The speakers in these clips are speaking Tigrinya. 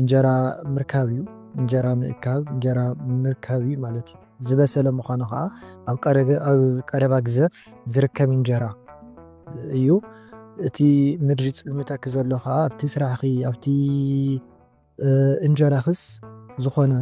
እንጀራ ምርካብ እዩ። እንጀራ ምእካብ እንጀራ ምርካብ እዩ ማለት እዩ። ዝበሰለ ምዃኑ ከዓ ኣብ ቀረገ ኣብ ቀረባ ግዘ ዝርከብ እንጀራ እዩ። እቲ ምድሪ ፅልምተኪ ዘሎ ከዓ ኣብቲ ስራሕኺ ኣብቲ እንጀራኽስ ዝኾነ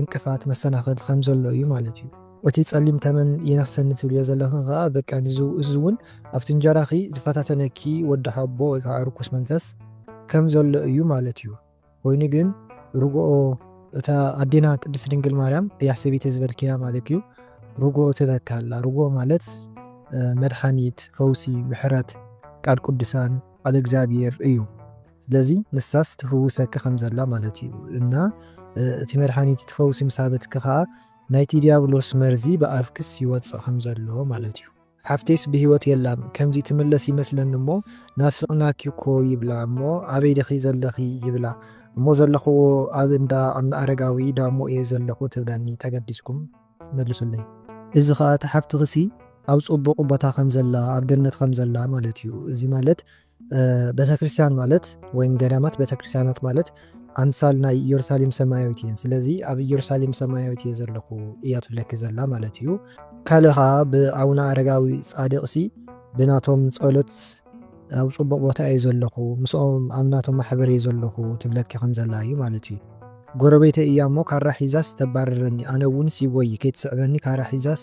እንቅፋት መሰናኸል ከም ዘሎ እዩ ማለት እዩ። እቲ ጸሊም ተመን ይነኽሰኒ ትብልዮ ዘለኺ ከኣ በቃ ንዚ እዚ ውን ኣብቲ እንጀራኺ ዝፈታተነኪ ወዲ ሓቦ ወይ ከኣ ርኩስ መንፈስ ከም ዘሎ እዩ ማለት እዩ ኮይኑ ግን ርግኦ እታ ኣዴና ቅድስት ድንግል ማርያም እያ ሰበይቲ ዝበልክያ ማለት እዩ ርግኦ ትበኪ ኣላ ርግኦ ማለት መድሓኒት ፈውሲ ምሕረት ቃል ቅዱሳን ቃል እግዚኣብሔር እዩ ስለዚ ንሳስ ትፍውሰኪ ከም ዘላ ማለት እዩ እና እቲ መድሓኒት እቲ ፈውሲ ምስ ሃበትኪ ከኣ ናይቲ ድያብሎስ መርዚ ብኣፍክስ ይወጽእ ከም ዘሎ ማለት እዩ። ሓፍተይስ ብህይወት የላን ከምዚ ትምለስ ይመስለኒ እሞ ናፊቅናኪ እኮ ይብላ እሞ ኣበይ ዲኺ ዘለኺ ይብላ እሞ ዘለኽዎ ኣብ እንዳ ኣና ኣረጋዊ ዳሞ እየ ዘለኹ ትብለኒ ተገዲስኩም መልሱለይ። እዚ ከኣ እታ ሓፍትኺሲ ኣብ ጽቡቅ ቦታ ከም ዘላ ኣብ ገነት ከም ዘላ ማለት እዩ እዚ ማለት ቤተክርስትያን ማለት ወይም ገዳማት ቤተክርስትያናት ማለት ኣምሳል ናይ ኢየሩሳሌም ሰማያዊት እየን ስለዚ ኣብ ኢየሩሳሌም ሰማያዊት እየ ዘለኹ እያ ትብለኪ ዘላ ማለት እዩ ካልእ ከዓ ብኣቡነ ኣረጋዊ ጻድቅ ሲ ብናቶም ጸሎት ኣብ ጽቡቅ ቦታ እየ ዘለኹ ምስኦም ኣብ ናቶም ማሕበር እየ ዘለኹ ትብለኪ ከም ዘላ እዩ ማለት እዩ ጎረቤተይ እያ እሞ ካራ ሒዛስ ተባርረኒ ኣነ እውን ሲቦይ ከይትስዕበኒ ካራ ሒዛስ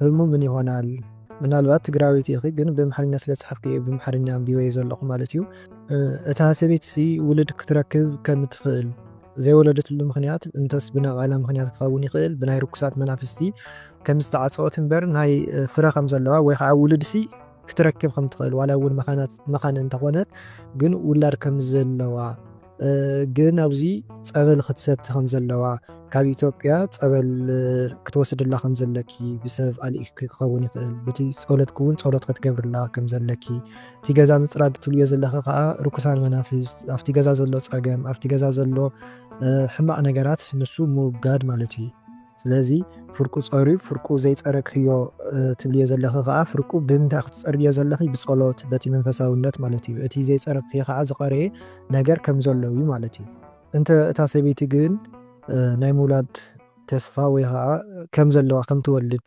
ህርሙ ምን ይሆናል ምናልባት ትግራወይቲ ኢኺ ግን ብኣምሓርኛ ስለ ዝፀሓፍክዮ እየ ብኣምሓርኛ ኣንቢበዮ ዘለኹ ማለት እዩ። እታ ሰበይቲ ሲ ውልድ ክትረክብ ከም ትኽእል ዘይወለደትሉ ምኽንያት እንተስ ብናይ ባዕላ ምኽንያት ክኸውን ይኽእል ብናይ ርኩሳት መናፍስቲ ከም ዝተዓፀወት እምበር ናይ ፍረ ከም ዘለዋ ወይ ኻዓ ውልድ ሲ ክትረክብ ከም ትኽእል ዋላ እውን መኻን እንተኾነት ግን ውላድ ከም ዘለዋ ግን ኣብዚ ጸበል ክትሰቲ ከም ዘለዋ ካብ ኢትዮጵያ ጸበል ክትወስድላ ከም ዘለኪ ብሰብ ኣልኢክኪ ክኸውን ይኽእል በቲ ጸሎትኪ እውን ጸሎት ክትገብርላ ከም ዘለኪ እቲ ገዛ ምጽራግ ትብልዮ ዘለኺ ከኣ ርኩሳን መናፍስት ኣብቲ ገዛ ዘሎ ጸገም ኣብቲ ገዛ ዘሎ ሕማቕ ነገራት ንሱ ምውጋድ ማለት እዩ። ስለዚ ፍርቁ ጸርዩ ፍርቁ ዘይጸረግክዮ ትብልዮ ዘለኺ ከኣ ፍርቁ ብምንታይ ኢኺ ትጸርግዮ ዘለኺ ብጸሎት በቲ መንፈሳውነት ማለት እዩ እቲ ዘይጸረግክዮ ከኣ ዝቀረየ ነገር ከም ዘሎ እዩ ማለት እዩ። እንተ እታ ሰበይቲ ግን ናይ ምውላድ ተስፋ ወይ ከኣ ከም ዘለዋ ከም ትወልድ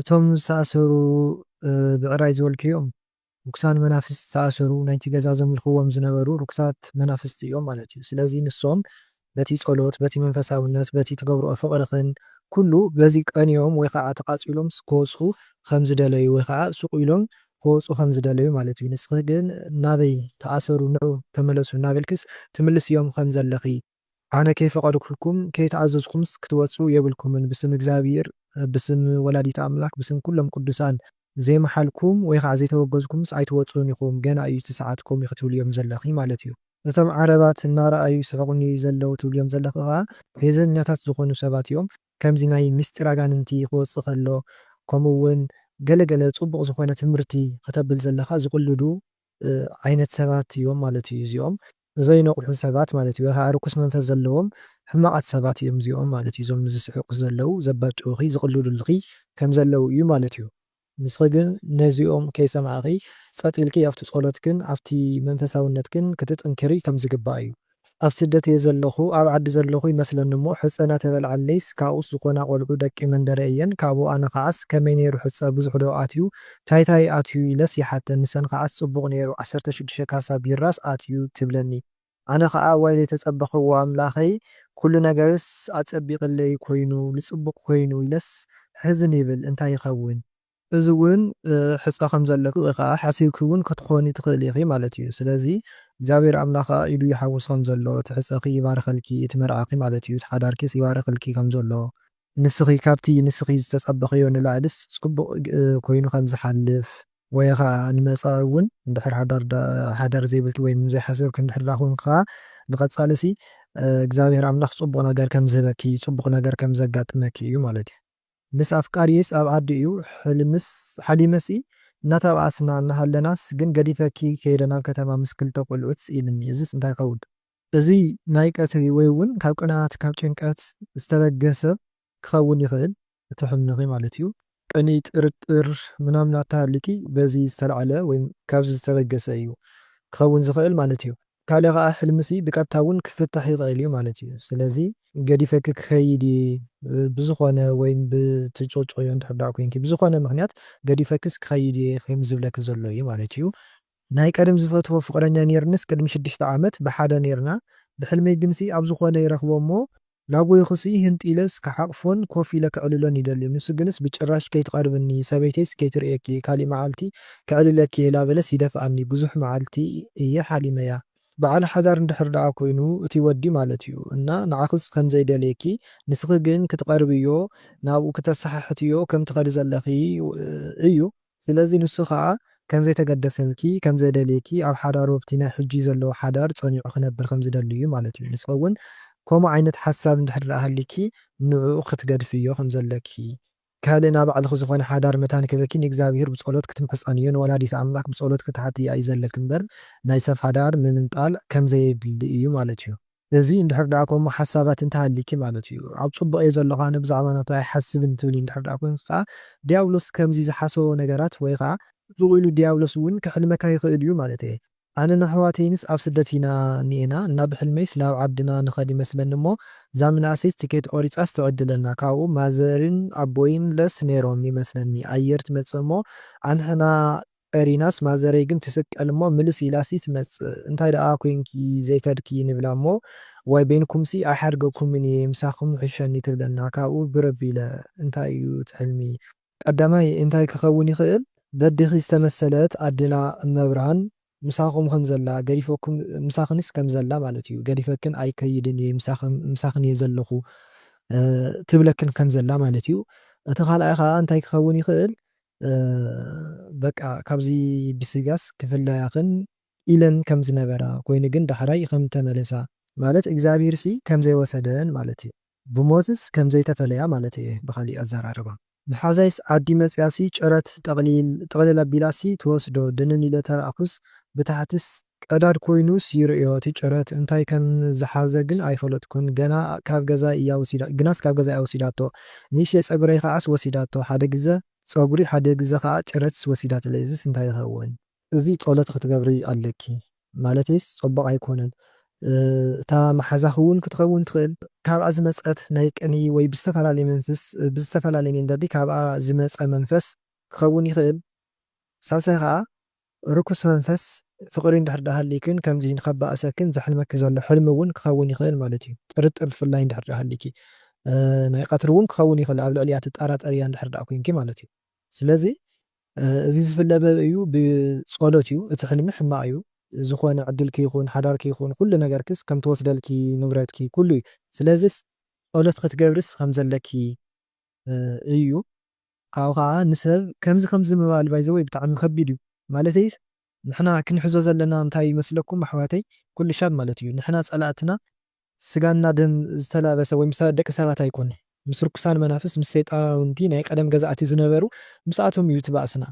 እቶም ዝተኣሰሩ ብዕራይ ዝበልኪ እዮም ርኩሳን መናፍስት ዝተኣሰሩ ናይቲ ገዛ ዘምልኽዎም ዝነበሩ ርኩሳት መናፍስት እዮም ማለት እዩ ስለዚ ንሶም በቲ ጸሎት በቲ መንፈሳውነት በቲ ትገብርኦ ፍቅርኽን ኩሉ በዚ ቀንዮም ወይ ኻዓ ተቃጺሎም ክወጹ ኸም ዝደለዩ ወይ ኻዓ ሱቅ ኢሎም ክወጹ ኸም ዝደለዩ ማለት እዩ ንስኺ ግን ናበይ ተኣሰሩ ንዑ ተመለሱ እናበልክስ ትምልስዮም ኸም ዘለኺ ኣነ ከይፈቀድኩልኩም ከይተኣዘዝኩምስ ክትወጹ የብልኩምን ብስም እግዚኣብሂር ብስም ወላዲተ ኣምላክ ብስም ኩሎም ቅዱሳን ዘይመሓልኩም ወይ ከዓ ዘይተወገዝኩምስ ኣይትወጹን ኢኩም ገና እዩ እቲ ሰዓት ኮምዩ ክትብልዮም ዘለኪ ማለት እዩ። እቶም ዓረባት እናረኣዩ ይስሕቁኒ ዘለው ትብልዮም ዘለኺ ኸኣ ፌዘኛታት ዝኾኑ ሰባት እዮም ከምዚ ናይ ምስጢር ኣጋንንቲ ክወጽእ ከሎ ከምኡ ውን ገለ ገለ ጽቡቅ ዝኾነ ትምርቲ ክተብል ዘለኻ ዝቅልዱ ዓይነት ሰባት እዮም ማለት እዩ እዚኦም ንዘይነቕሑ ሰባት ማለት እዩ ወይ ኻዓ ርኩስ መንፈስ ዘለዎም ሕማቓት ሰባት እዮም እዚኦም ማለት እዩ እዞም ንዝስሕቁኺ ዘለዉ ዘባጭዉኺ ዝቕልዱልኺ ከምዘለዉ እዩ ማለት እዩ ንስኺ ግን ነዚኦም ከይሰማዕኺ ጸጥ ኢልኪ ኣብቲ ጾሎትክን ኣብቲ መንፈሳዉነትክን ክትጥንክሪ ከምዝግባእ እዩ። ኣብ ስደት እየ ዘለኹ ኣብ ዓዲ ዘለኹ ይመስለኒ እሞ ሕጸ ናተበልዓለይስ ካብኡስ ዝኾና ቆልዑ ደቂ መንደረይ እየን ካብኡ ኣነ ኻዓስ ከመይ ነይሩ ሕጸ ብዙሕ ዶ ኣትዩ ታይ ታይ ኣትዩ ኢለስ ይሓተን ንሰን ከዓስ ፅቡቅ ነይሩ ዓሰርተ ሽዱሽተ ካሳ ቢራስ ኣትዩ ትብለኒ ኣነ ከኣ እዋይ ዘይተፀበክዎ ኣምላከይ ኩሉ ነገርስ ኣፀቢቅለይ ኮይኑ ልፅቡቅ ኮይኑ ኢለስ ሕዝን ይብል እንታይ ይከውን እዚ እውን ሕፀ ከም ዘለኪ ወይ ከኣ ሓሲብኪ እውን ክትኮኒ ትክእሊ ኢኪ ማለት እዩ ስለዚ እግዚኣብሔር ኣምላክ ከኣ ኢዱ ይሓውስ ከም ዘሎ እቲ ሕፀኪ ይባርከልኪ እቲ መርዓኪ ማለት እዩ እቲ ሓዳርኪስ ይባርከልኪ ከም ዘሎ ንስኺ ካብቲ ንስኺ ዝተጸበኽዮ ንላዕሊስ ጽቡቕ ኮይኑ ከም ዝሓልፍ ወይ ኸኣ ንመጻኢ እውን እንድሕር ሓዳር ዘይብልኪ ወይ ዘይሓሰብኪ እንድሕር ደኣ ኮንኪ ኸኣ ንቐጻሊሲ እግዚኣብሄር ኣምላኽ ጽቡቕ ነገር ከም ዝህበኪ ጽቡቕ ነገር ከም ዘጋጥመኪ እዩ ማለት እዩ። ምስ ኣፍቃሪየይስ ኣብ ዓዲ እዩ ሕልምስ ሓሊመሲ እናተባኣስና እናሃለናስ ግን ገዲፈኪ ከይደ ናብ ከተማ ምስ ክልተ ቆልዑት ኢሉኒ እዚስ እንታይ ይኸውን? እዚ ናይ ቀትሪ ወይ እውን ካብ ቅንኣት፣ ካብ ጭንቀት ዝተበገሰ ክኸውን ይኽእል እቲ ሕልምኺ ማለት እዩ። ቅንኢ፣ ጥርጥር፣ ምናምን ኣተሃሊኪ በዚ ዝተልዓለ ወይ ካብዚ ዝተበገሰ እዩ ክኸውን ዝኽእል ማለት እዩ። ካልእ ከኣ ሕልምሲ ብቀጥታ እውን ክፍታሕ ይኽእል እዩ ማለት እዩ። ስለዚ ገዲፈኪ ክኸይድ እየ ብዝኾነ ወይ ብትጭቅጭቅዮ እንድሕር ደኣ ኮይንኪ ብዝኾነ ምኽንያት ገዲፈክስ ክኸይድ እየ ከም ዝብለኪ ዘሎ እዩ ማለት እዩ። ናይ ቀደም ዝፈትዎ ፍቅረኛ ኔርንስ ቅድሚ ሽድሽተ ዓመት ብሓደ ኔርና ብሕልመይ ግንሲ ኣብ ዝኮነ ይረክቦ እሞ ላጎይኩሲ ህንጥ ኢለስ ክሓቅፎን ኮፍ ኢለ ክዕልሎን ይደሊ ንሱ ግንስ ብጭራሽ ከይትቀርብኒ ሰበይተይስ ከይትርእየኪ ካሊእ መዓልቲ ክዕልለኪ እየ ላበለስ ይደፍኣኒ ብዙሕ መዓልቲ እየ ሓሊመያ በዓል ሓዳር እንድሕር ደኣ ኮይኑ እቲ ወዲ ማለት እዩ እና ንዓክስ ከምዘይ ደልየኪ ንስኪ ግን ክትቀርብዮ ናብኡ ክተሰሓሕትዮ ከም ትከዲ ዘለኪ እዩ ስለዚ ንሱ ከኣ ከም ዘይተገደሰልኪ፣ ከም ዘደልየኪ፣ ኣብ ሓዳሩ ኣብቲ ናይ ሕጂ ዘለዎ ሓዳር ጸኒዑ ክነብር ከም ዝደሊ እዩ ማለት እዩ። ንስኺ እውን ከምኡ ዓይነት ሓሳብ እንድሕር ደኣ ሃልዩኪ ንዕኡ ክትገድፍዮ ከም ዘለኪ፣ ካልእ ናይ ባዕልኺ ዝኾነ ሓዳር መታን ክህበኪ ንእግዚኣብሄር ብጸሎት ክትምሕጸንዮ፣ ንወላዲተ ኣምላኽ ብጸሎት ክትሓትያ እዩ ዘለኪ እምበር ናይ ሰብ ሓዳር ምምንጣል ከም ዘየድሊ እዩ ማለት እዩ። እዚ እንድሕር ደኣ ከምኡ ሓሳባት እንተ ሃልይኪ ማለት እዩ። ኣብ ጽቡቕ እየ ዘለኹ ኣነ ብዛዕባ ናቱ ኣይሓስብን ትብሊ እንድሕር ደኣ ኮንኪ ከኣ ድያብሎስ ከምዚ ዝሓሰቦ ነገራት ወይ ከኣ። ጽቡቕ ኢሉ ድያብሎስ እውን ከሕልመካ ይኽእል እዩ ማለት እየ። ኣነን ኣሕዋተይንስ ኣብ ስደት ኢና እኒኤና እና ብሕልመይስ ናብ ዓድና ንኸድ ይመስለኒ እሞ እዛ ምንእሰይስ ትኬት ቆሪጻስ ትዕድለና ካብኡ ማዘርን ኣቦይን ለስ ነይሮም ይመስለኒ ኣየር ትመጽእ እሞ ኣንሕና ኤሪናስ ማዘረይ ግን ትስቀል እሞ ምልስ ኢላሲ ትመጽእ እንታይ ደኣ ኮንኪ ዘይከድኪ ንብላ እሞ ዋይ በይንኩምሲ ኣይሓድገኩምን እየ ምሳኩም ይሕሸኒ ትብለና ካብኡ ብር ኣቢለ እንታይ እዩ እቲ ሕልሚ ቀዳማይ እንታይ ክከውን ይክእል በዴኪ ዝተመሰለት ኣዴና እመብርሃን ምሳኩም ከም ዘላ ገዲፈኩም ምሳክንስ ከም ዘላ ማለት እዩ ገዲፈክን ኣይከይድን እየ ምሳክን እየ ዘለኩ ትብለክን ከም ዘላ ማለት እዩ እቲ ካልኣይ ከኣ እንታይ ክከውን ይክእል በቃ ካብዚ ብስጋስ ክፍለያክን ኢለን ከም ዝነበራ ኮይኑ ግን ዳሕራይ ከም ተመለሳ ማለት እግዚኣብሄርሲ ከም ዘይወሰደን ማለት እዩ ብሞትስ ከም ዘይተፈለያ ማለት እየ ብካሊእ ኣዛራርባ ምሓዛይስ ዓዲ መጽያሲ ጭረት ጠቅሊል ኣቢላሲ ትወስዶ ድንን ኢለ ተራኣኩስ ብታሕትስ ቀዳድ ኮይኑስ ይርእዮ እቲ ጭረት እንታይ ከም ዝሓዘ ግን ኣይፈለጥኩን ገና ካብ ገዛይ እያ ወሲዳ ግናስ ካብ ገዛይ እያ ወሲዳቶ ንእሽተይ ጸጉረይ ከዓስ ወሲዳቶ ሓደ ግዘ ጸጉሪ ሓደ ግዘ ከኣ ጭረትስ ወሲዳትለይ እዝስ እንታይ ይኸውን። እዚ ጾሎት ክትገብሪ ኣለኪ ማለተይስ ጾቡቅ ኣይኮነን እታ ማሓዛኪ ውን ክትከውን ትክእል ካብኣ ዝመጸት ናይ ቅንኢ ወይ ብዝተፈላለየ መንፍስ ብዝተፈላለየ መንገዲ ካብኣ ዝመጸ መንፈስ ክከውን ይክእል ሳልሳይ ከኣ ርኩስ መንፈስ ፍቕሪ እንድሕር ድኣ ሃልይክን ከምዚ ንኸባእሰክን ዘሕልመኪ ዘሎ ሕልሚ እውን ክኸውን ይኽእል ማለት እዩ። ጥርጥር ብፍላይ እንድሕር ድኣ ሃልይኪ ናይ ቐትሪ እውን ክኸውን ይኽእል ኣብ ልዕሊኣ ትጣራጠርያ እንድሕር ድኣ ኮይንኪ ማለት እዩ። ስለዚ እዚ ዝፍለ በብ እዩ ብጸሎት እዩ እቲ ሕልሚ ሕማቕ እዩ ዝኾነ ዕድልኪ ይኹን ሓዳርኪ ይኹን ኩሉ ነገርክስ ከም ትወስደልኪ ንብረትኪ ኩሉ እዩ ስለዝስ ጸሎት ክትገብርስ ከም ዘለኪ እዩ። ካብኡ ከኣ ንሰብ ከምዚ ከምዚ ምባል by the way ብጣዕሚ ከቢድ እዩ ማለተይስ ንሕና ክንሕዞ ዘለና እንታይ እዩ መስለኩም ኣሕዋተይ ኩልሻብ ማለት እዩ ንሕና ጸላእትና ስጋና ደም ዝተላበሰ ወይ ምስ ደቂ ሰባት ኣይኮነን ምስ ርኩሳን መናፍስት ምስ ሰይጣውንቲ ናይ ቀደም ገዛእቲ ዝነበሩ ምስኣቶም እዩ እቲ ባእስና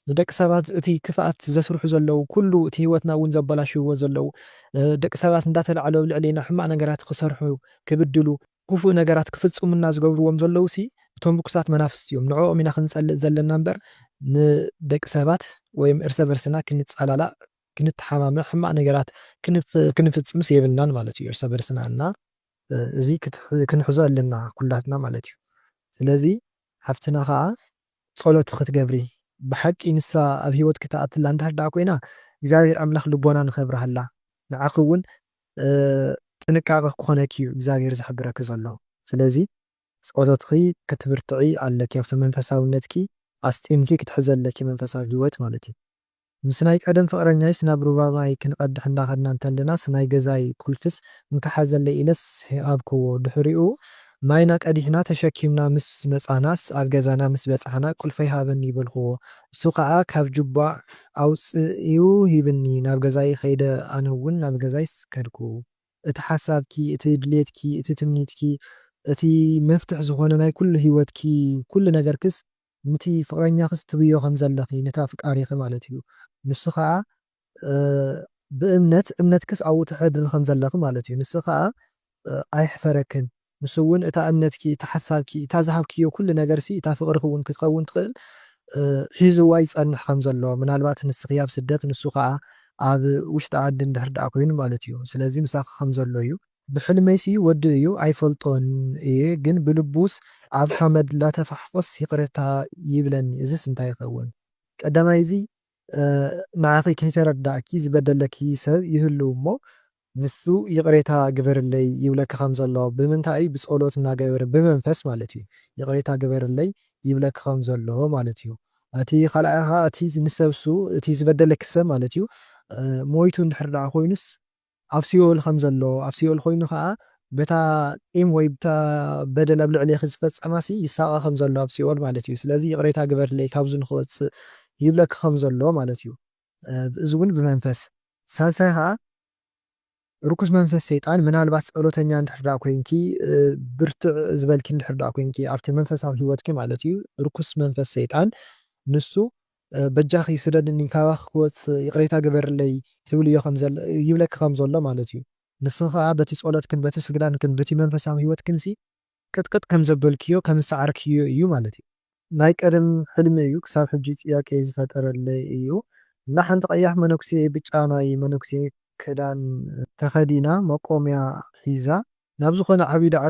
ንደቂ ሰባት እቲ ክፍኣት ዘስርሑ ዘለዉ ኩሉ እቲ ሂወትና እውን ዘበላሽውዎ ዘለዉ ደቂ ሰባት እንዳተላዕሉ ኣብ ልዕሌና ሕማቅ ነገራት ክሰርሑ ክብድሉ ኩፉእ ነገራት ክፍጽሙና ዝገብርዎም ዘለዉሲ እቶም ርኩሳት መናፍስቲ እዮም ንዕኦም ኢና ክንጸልእ ዘለና እምበር ንደቂ ሰባት ወይም እርሰ በርስና ክንጻላላእ ክንተሓማመ ሕማቅ ነገራት ክንፍጽምስ የብልናን ማለት እዩ እርሰ በርስና እና እዚ ክንሕዞ ኣለና ኩላትና ማለት እዩ ስለዚ ሓፍትና ከኣ ጸሎት ክትገብሪ ብሓቂ ንሳ ኣብ ሂወትኪ ትኣትላ እንድሕር ደኣ ኮይና እግዚኣብሄር ኣምላክ ልቦና ንከብርሃላ ንዓኪ ውን ጥንቃቀ ክኮነኪ እዩ እግዚኣብሔር ዝሕብረኪ ዘሎ ስለዚ ፆሎትኪ ክትብርትዒ ኣለኪ ኣብቲ መንፈሳውነትኪ ኣስጢምኪ ክትሕዚ ኣለኪ መንፈሳዊ ሂወት ማለት እዩ ምስ ናይ ቀደም ፍቅረኛይስ ናብ ሩባ ማይ ክንቀድሕ እንዳከድና እንተለናስ ናይ ገዛይ ቁልፍስ እንካ ሓዘለይ ኢለስ ሃብክዎ ድሕሪኡ ማይና ቀዲሕና ተሸኪምና ምስ መጻናስ ኣብ ገዛና ምስ በጻሕና ቁልፈይ ሃበኒ በልክዎ እሱ ከኣ ካብ ጁባ ኣውጺኡ ሂብኒ ናብ ገዛይ ከይደ ኣነ ውን ናብ ገዛይ ከድኩ። እቲ ሓሳብኪ እቲ ድሌትኪ እቲ ትምኒትኪ እቲ መፍትሕ ዝኮነ ናይ ኩሉ ሂወትኪ ኩሉ ነገርክስ ንቲ ፍቅረኛክስ ትብዮ ከም ዘለኪ ንቲ ኣፍቃሪኪ ማለት እዩ ንሱ ከኣ ብእምነት እምነትክስ ኣብኡ ተሕድሪ ከም ዘለኪ ማለት እዩ ንሱ ከኣ ኣይሕፈረክን ንሱ ውን እታ እምነትኪ እታ ሓሳብኪ እታ ዝሃብክዮ ኩሉ ነገርሲ እታ ፍቅርኪ ውን ክትከውን ትክእል ሒዝዋ ይጸንሕ ከም ዘሎ ምናልባት ንስኪ ኣብ ስደት ንሱ ከኣ ኣብ ውሽጢ ዓዲ እንድሕር ደኣ ኮይኑ ማለት እዩ ስለዚ ምሳኪ ከም ዘሎ እዩ ብሕልመይሲ ወዱ እዩ ኣይፈልጦን እየ ግን ብልቡስ ኣብ ሓመድ ላተፋሕፎስ ይቅሬታ ይብለኒ እዝስ እንታይ ይከውን። ቀዳማይ እዚ ንዓኺ ከይተረደኣኪ ዝበደለኪ ሰብ ይህሉ እሞ ንሱ ይቅሬታ ግበርለይ ይብለኪ ከም ዘሎ ብምንታይ እዩ ብጸሎት እናገበረ ብመንፈስ ማለት እዩ ይቅሬታ ግበርለይ ይብለኪ ከም ዘሎ ማለት እዩ እቲ ካልኣይ ከኣ እቲ ንሰብሱ እቲ ዝበደለኪ ሰብ ማለት እዩ ሞይቱ እንድሕር ደኣ ኮይኑስ ኣብ ሲኦል ኸም ዘሎ፣ ኣብ ሲኦል ዀይኑ ኸኣ በታ ቂም ወይ ብታ በደል ኣብ ልዕሌኺ ዝፈጸማሲ ይሳቐ ኸም ዘሎ ኣብ ሲኦል ማለት እዩ። ስለዚ ይቕሬታ ግበርለይ ካብዚ ንኽወጽእ ይብለኪ ኸም ዘሎ ማለት እዩ። እዚ እውን ብመንፈስ። ሳልሳይ ኸኣ ርኩስ መንፈስ ሰይጣን ምናልባት ጸሎተኛ እንድሕር ደኣ ኰይንኪ ብርትዕ ዝበልኪ እንድሕር ደኣ ኰይንኪ ኣብቲ መንፈሳዊ ህይወትኪ ማለት እዩ ርኩስ መንፈስ ሰይጣን ንሱ በጃኺ ስደድኒ ካባኺ ክወጽእ ይቕሬታ ግበርለይ ትብልዮ ከምዘለ ይብለኪ ከም ዘሎ ማለት እዩ። ንስኺ ከኣ በቲ ጸሎትክን በቲ ስግዳንክን ብቲ መንፈሳዊ ህይወትክንሲ ቅጥቅጥ ከም ዘበልክዮ ከም ዝሰዓርክዮ እዩ ማለት እዩ። ናይ ቀደም ሕልሚ እዩ ክሳብ ሕጂ ጥያቄ ዝፈጠረለይ እዩ እና ሓንቲ ቀያሕ መነኩሴ ብጫ ናይ መነኩሴ ክዳን ተኸዲና መቆምያ ሒዛ ናብ ዝኾነ ዓቢ ዳዕሮ